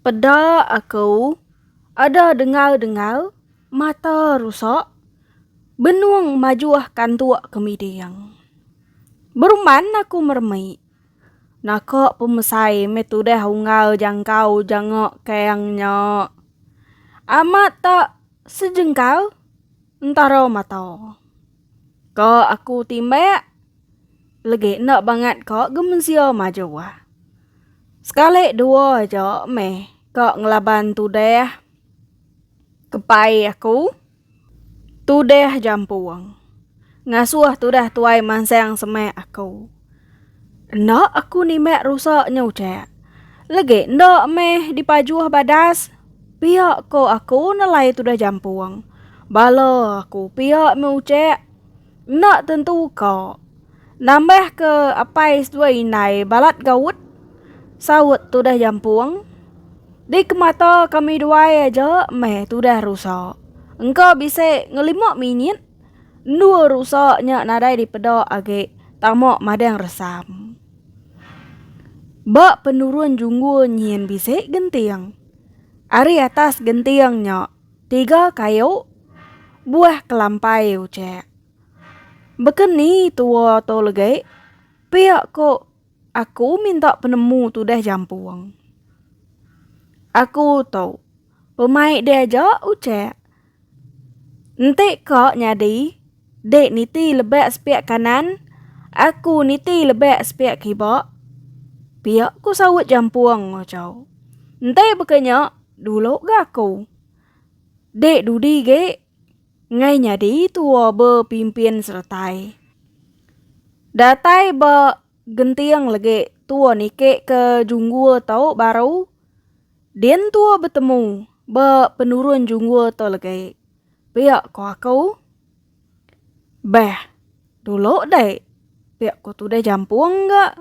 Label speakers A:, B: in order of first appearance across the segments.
A: Peda aku ada dengar-dengar mata rusak benung majuh kantuk ke miding. Beruman aku meremi. Naka pemesai meh tudah unggal jangkau janga kang nya. Amat tak sejengkal Entara mata. Ka aku timbak. Legi enda bangat ka ge mensia maju. Sekali dua aja meh ka ngelaban tudah. Kepai aku. Tudah jampung. Ngasuh tudah tuai mansang semak aku. Enda aku nimbak rusa nya ucak. Legi enda meh dipajuh badas. Pia ko aku nelai tudah jampung. Bala aku pia meh ucak. Enda tentu ka. Nambah ke apai seduai indai balat gaut. Saut tudah jampung. Di kemata kami duai aja meh tudah rusa. Engka bisi ngelima minit. Endua rusa nya nadai dipeda agi tama madang resam. Ba penurun junggul nyin bisi genting. Ari atas genting nya tiga kayu buah kelampai ucek. Beken ni tua tu legi pia ku aku minta penemu tudah jampung. Aku tu pemai dia aja ucek Enti ka nyadi, dek niti lebak sepiak kanan, aku niti lebak sepiak kibak. Piak ku saut jampung Ojo. Enti baka nya, dulu ga aku. Dek dudi ge ngai nyadi tua ba pimpin seretai. Datai ba genting legi tua niki ke junggul tu baru. Din tua betemu ba penurun junggul tu legi. Pia ko aku. Beh, dulu deh. Pia ko tudah jampung ga.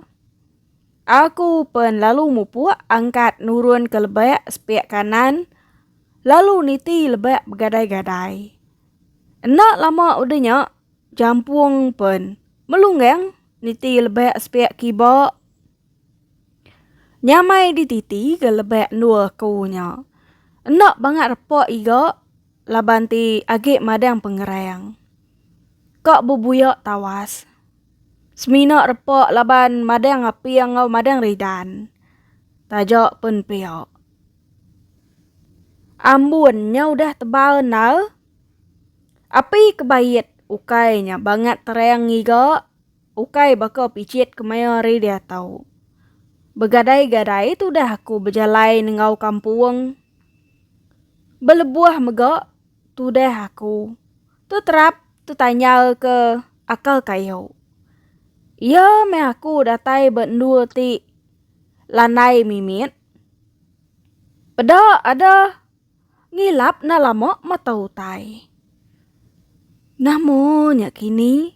A: Aku pen lalu mupuk angkat nurun ke lebak sepik kanan lalu niti lebak begadai-gadai. Enda lama udah nya jampung pen melunggang niti lebak sepik kiba Nyamai di titi ke lebek endur aku nya. Enda bangat repa iga laban ti agi madang pengerang. Ka bebuya tawas. Semina repa laban madang aping enggau madang ridan. Taja pun pia. Ambun nya udah tebal endar. Api ke bait ukai nya bangat terang ngiga. Ukai baka picit kemaya ari diatau. Begadai-gadai tudah aku bejalai nenggau kampung. Belebuh mega tudah aku teterap tetanyalka akal kayu. Iya meh aku datai ba endur ti landai mimit. Peda ada ngilap enda lama mata utai. Namo nya kini.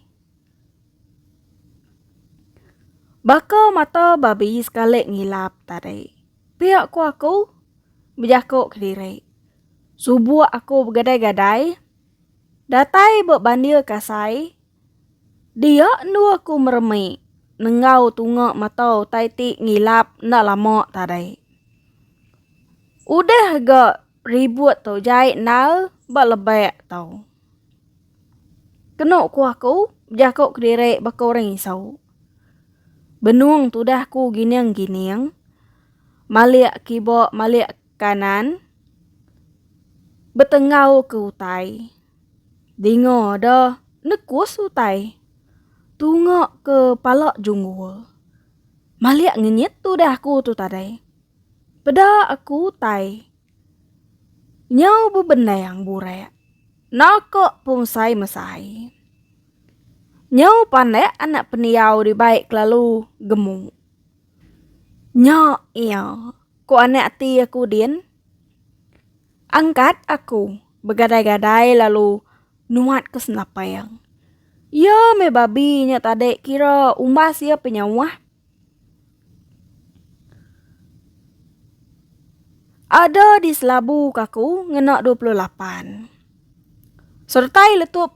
A: Baka mata babi sekali ngilap tadi. Pia ku aku bejaku kediri. Subuk aku begadai-gadai. Datai ba bandir kasai. Dia endu aku meremi nenggau tunga mata utai ti ngilap enda lama tadi. Udah ga. Ribut tu jai endal ba lebak tau. Kenu ku aku bejaku kediri baka orang isau. Benung tudah ku gining-gining malik kiba malik kanan betenggau ke utai. Dinga da nekus utai tunga ke pala junggul. Malik ngenyit tudah ku tu tadai. Peda aku utai. Nyau bebendang burak. Naka pungsai mesai. Nyau pandak anak pendiau dibai kelalu gemu. Nya iya, ku anak ati aku din. Angkat aku begadai-gadai lalu nuat ke senapang. Iya meh babi nya tadi kira umbas iya penyauh. Ada di selabu kaku ngena dua puluh lapan. Sertai letup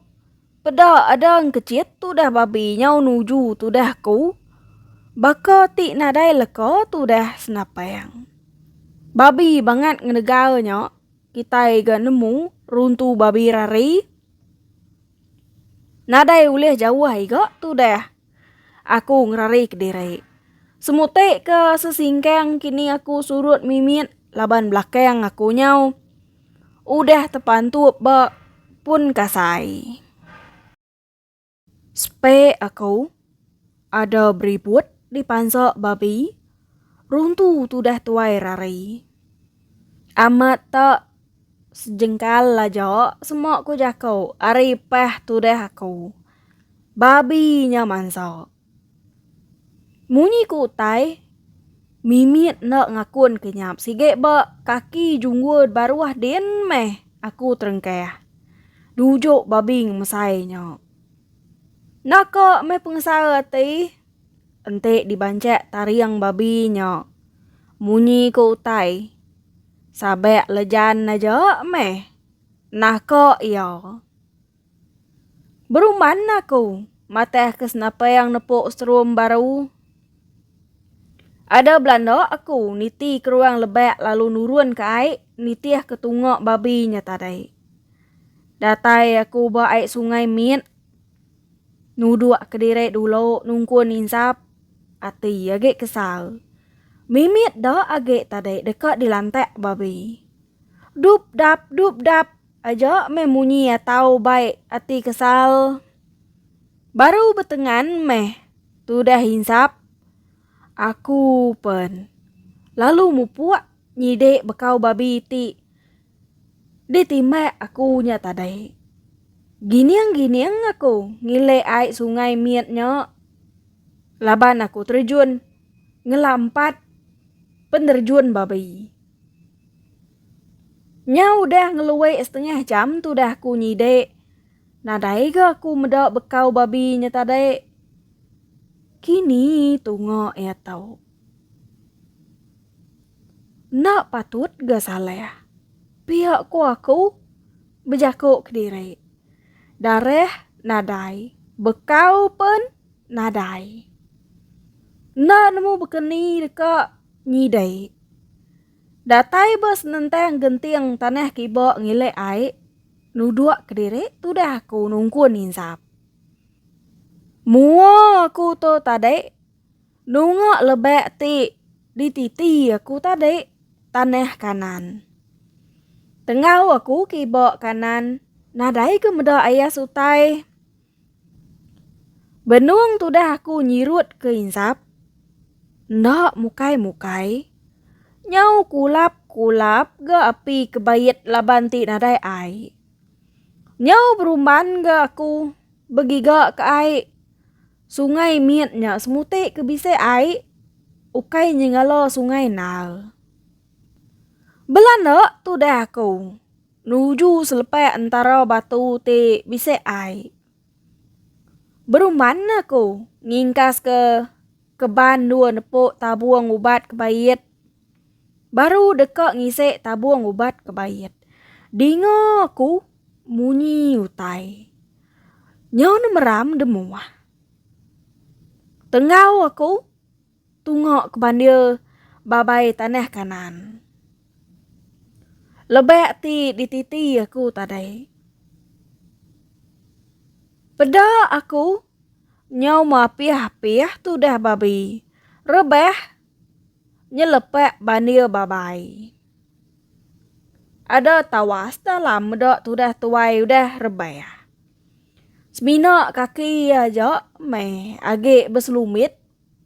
A: peda ada engkecit tudah babi nyau nuju tudah aku, baka ti nadai leka tudah senapang. Babi bangat ngenegal nya kitai ga nemu runtu babi rari. Nadai ulih jauh ai ga tudah. Aku ngerari kediri. Semuti ke sesingkang kini aku surut mimit laban belakang aku nyau udah tepantup ba pun kasai. Sepe aku ada beriput dipansa babi runtu tudah tuai rari. Amat tak Sejengkal aja sema ku jaku ari pah tudah aku. Babi nya mansa. Munyi ku utai, mimit enda ngakun ke nyap sigi ba kaki junggul baruh din meh aku terengkah. Dujuk babi ngemesai nya. Enda ka meh pengesara ati enti dibanchak taring babi nya. Munyi ku utai. Sabak lejan aja meh. Nah ko iya. Beruman aku matah ke senapang nepuk serum baru. Ada belanda aku niti ke ruang lebak lalu nurun ke ai nitih ke tunga babi nya tadi. Datai aku ba ai sungai mit. Nuduk ke diri dulu nungkun insap. Ati agi kesal. Mimit da agi tadi deka dilantak babi. Dup dap dup dap aja meh munyi iya tau bai ati kesal. Baru betengan meh tudah insap. Aku pen lalu mupuk nyidi bekau babi ti. Di timbak aku nya tadai. Gining-gining aku ngilik ai sungai mit nya laban aku terjun ngelampat penerjun babi. Nya udah ngelui setengah jam tudah aku nyidik, nadai ga aku meda bekau babi nya tadai. Kini tunga iya tau. Enda patut ga salah, pia ku aku, bejaku kediri. Darah nadai, bekau pen nadai. Enda nemu bekeni deka nyidi. Datai ba senentang genting tanah kiba ngilik ai, nuduk kediri tudah aku nungkun insap. Mua aku tu tadi Nunga lebak ti dititi aku tadi tanah Kanaan. Tengau aku ke iba Kanaan nadai ke meda ayas utai. Benung tudah aku nyirut ke insap, enda mukai-mukai, nyau kulap-kulap ga api ke bait laban ti nadai ai. Nyau berumban ga aku begiga ke ai Sungai mit nya semuti ke bisi ai ukai nyengala sungai Nile. Belanda tudah aku nuju selepak entara batu ti bisi ai. Berumban aku ngingkaska keban dua nepuk tabung ubat ke bait Baru deka ngisi tabung ubat ke bait. Dinga ku munyi utai. Nyo ne meram demuah. Tenggau aku tunga ke bandir babai tanah kanan. Lebak ti dititi aku tadai. Peda aku nyau mapih-apih tudah babi. Rebah nyelepak bandir babai. Ada tawas dalam meda tudah tuai udah rebah. Semina kaki iya aja meh agi beselumit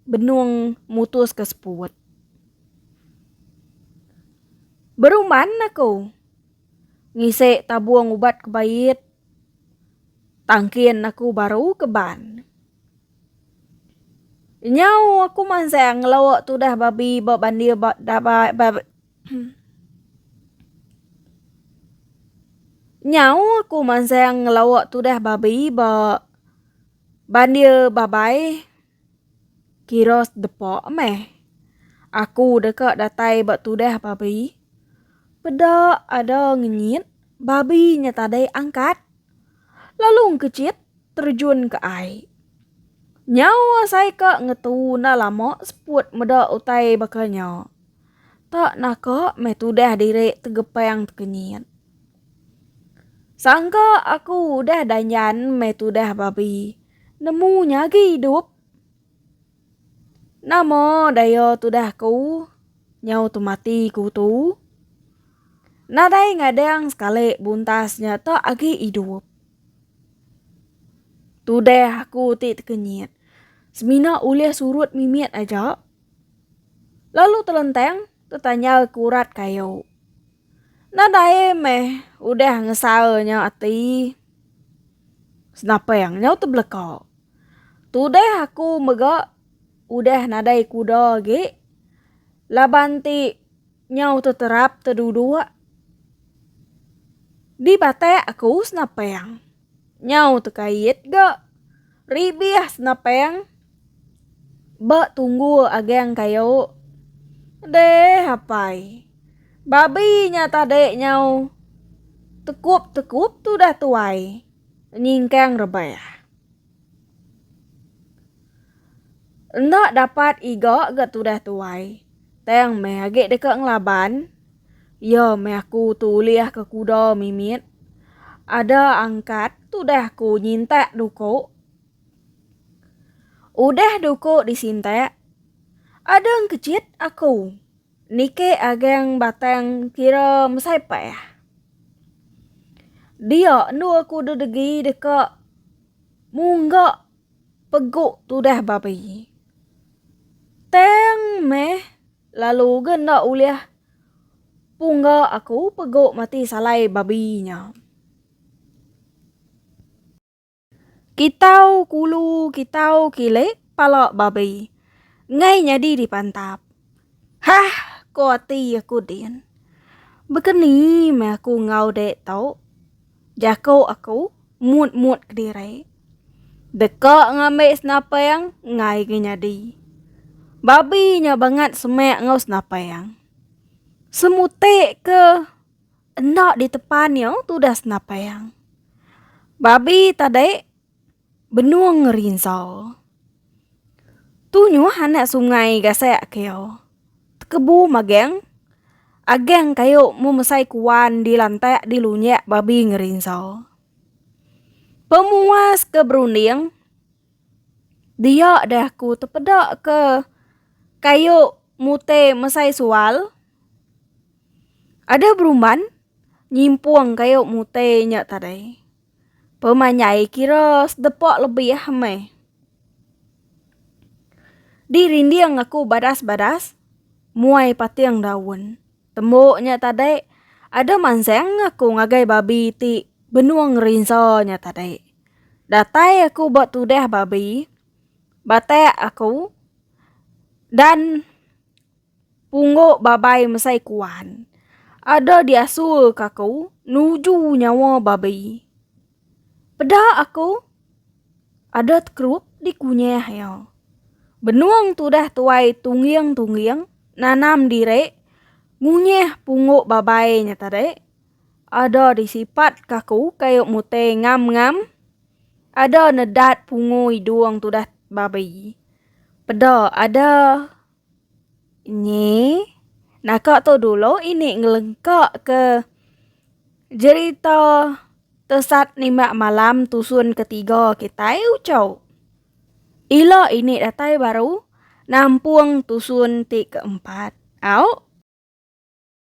A: benung mutus ke seput. Beruman aku ngisi tabung ubat ke bait tangkin aku baru ke ban. Nyau aku mansang ngelok tudah babi ba bandir ba dabai ba Nyau aku mansang ngelok tudah babi ba bandir babai kira sedepa meh. Aku deka datai ba tudah babi peda ada ngenyit babi nya tadai angkat. lalu engkechit terjun ke ai. Nyau asai ka ngetu enda lama seput meda utai baka nya. Tak naka meh tudah diri tegepang tekenyit. Sangka aku udah danjan meh tudah babi, nemu nyagi idup. Nama daya tudah aku nyau temati ku tu? Nadai ngadang sekali buntas nya tu agi idup. Tudah aku ti tekenyit semina ulih surut mimit aja. Lalu telentang tetanyal ke urat kayu. Nadai meh udah ngesal nyau ati. Senapang nyau tebeleka. Tudah aku mega udah nadai kuda agi laban ti nyau teterap teduduk di batak aku senapang. Nyau tekait ga ribih senapang ba tunggu agang kayu. Deh apai. Babi nya tadi nyau tekup-tekup tudah tuai nyingkang rebah. Enda dapat iga ga tudah tuai, tang meh agi deka ngelaban. Iya meh aku tu ulih ka kuda mimit. Ada angkat tudah aku nyintak duku. Udah duku disintak, adang kecit aku. Niki agang batang kira mesai pah. Dia endur aku dedegi deka mungga peguk tudah babi. Tang meh lalu ga enda ulih pungga aku peguk mati salai babi nya. Kitau kulu kitau kile pala babi. Enggai nyadi dipantap. Hah ko ati aku din. Bekeni meh aku enggau dek tu. Jako aku mut mut kediri. Deka ngambi senapang enggai ga nyadi. Babi nya bangat semak enggau senapang. Semutik ke. Enda di tepan nya tudas napang. Babi tadi benung ngerinsa. Tunyuh anak sungai gasak ke iya. Tekebu magang agang kayu memesai kuan di lantak di lunyak babi ngerinsa. Pemuas ke berunding dia dah ku tepeda ke kayu mutih mesai sual. Ada berumban nyimpung kayu mutai nya tadai. Pemanyai kira sedepa lebih meh. Di rinding aku badas-badas muai pating daun. Tembu nya tadai ada mansang aku ngagai babi ti benung rinsa nya tadai. Datai aku ba tudah babi batak aku dan Punggo babai mesai kuan. Ada diasur ka aku nuju nyawa babi. Peda aku. Ada tekerup di kunyah ya. Benung tudah tuai tungging-tungging nanam diri ngunyah punggo babai nya tadi. Ada disipat ka aku kayu mute ngam-ngam. Ada nedat pungu idung tudah babi. Peda ada Nyi, naka tu dulu ini ngelengka ke jerita Tesat Nimak Malam Tusun Ketiga kitai Uchau. Ila ini datai baru nampung tusun ti keempat. Au.